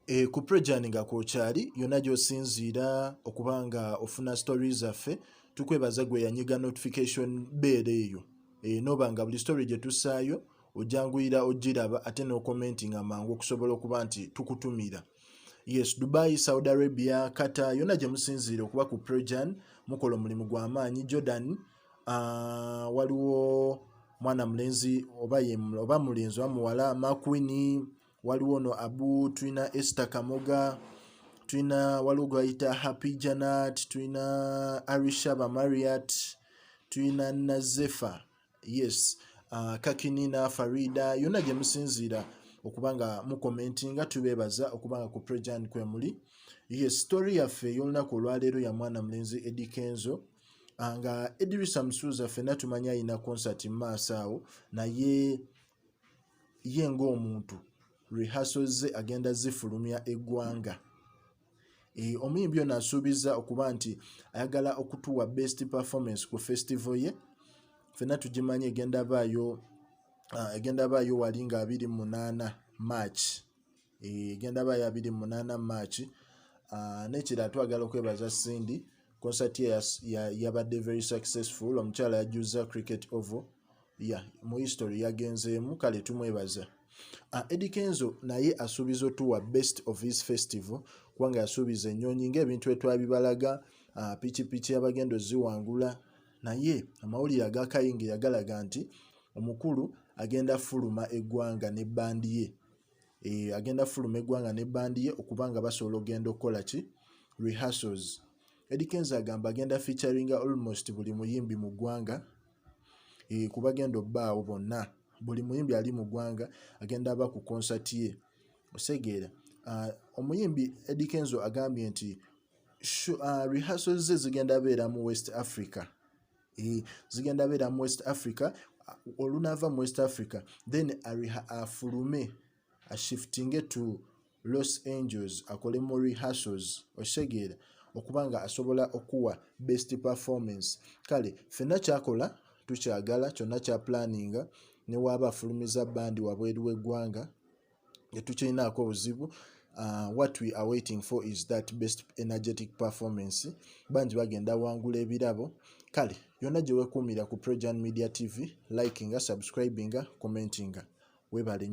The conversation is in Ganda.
E, ku prejani nga kwokyali yonna gyosinziira okuba nga ofuna story zaffe tukwebaza gwe yanyiga notification beera eyo e, noba nga buli story gye tussaayo ojanguyira ogiraba ate nokomenti nga mangu okusobola okuba nti tukutumira yes dubai saudi arabia kata yonna gye musinziira okuba ku prejan mukola omulimu gw'amaanyi jordan uh, waliwo mwana mulenzi oba, oba mulenzi oba muwala makwini waliwo no abu tulina ester kamoga tulina waliwo gwayita happy janat tulina arisha bamariat tulina nazefa yes uh, kakinina farida yonna gye musinziira okuba nga mukomenti nga tubeebaza okuba nga ku prejan kwemuli ye sitori yaffe ey'olunaku olwaleero ya mwana mulenzi edi kenzo ah, nga edirisa musuuza ffenna tumanya alina konsati mu maaso awo naye ye ng'omuntu rehearsal ze agenda zifulumya eggwanga eh, omuyimbi ono asuubiza okuba nti ayagala okutuwa best performance ku festival ye fenna tugimanyi egenda baayo ah, egenda baayo wali nga 28 march egenda ba ya 28 march uh, nekira twagala okwebaza cindy concert ye yabadde ya very successful omukyala yajuzza cricket ovo ya yeah, mu history yagenzeemu kale tumwebaza uh, ah, edi kenzo naye asuubiza otuwa best of his festival kubanga yasuubiza ennyonyi ngaebintu etwabibalaga uh, pikipiki abagenda oziwangula naye amawulire agakayingira galaga nti omukulu agenda fuluma eggwanga ne bandi ye e, agenda fuluma eggwanga ne bandi ye okuba nga basobola ogenda okukola ki rehearsals Eddie Kenzo agamba agenda featuringa almost buli muyimbi mu ggwanga e, ku bagenda obbaawo bonna buli muyimbi ali mu ggwanga agenda aba ku concert ye osegeera uh, omuyimbi Eddie Kenzo agambye nti uh, rehearsals ze zigenda beera mu West Africa eh, zigenda beera mu west africa olunaava mu west africa then afulume ashiftinge to los angels akole mu rehearsals okitegeera okuba nga asobola okuwa best performance kale fenna kyakola tukyagala kyonna kya planinga newaaba afulumiza bandi wabweru w'eggwanga tetukyinaako buzibu Uh, what we are waiting for is that best energetic performance bangi bagenda wangula ebirabo kale yonna gye wekuumira ku projan media tv likinga subscribinga commentinga webale nyo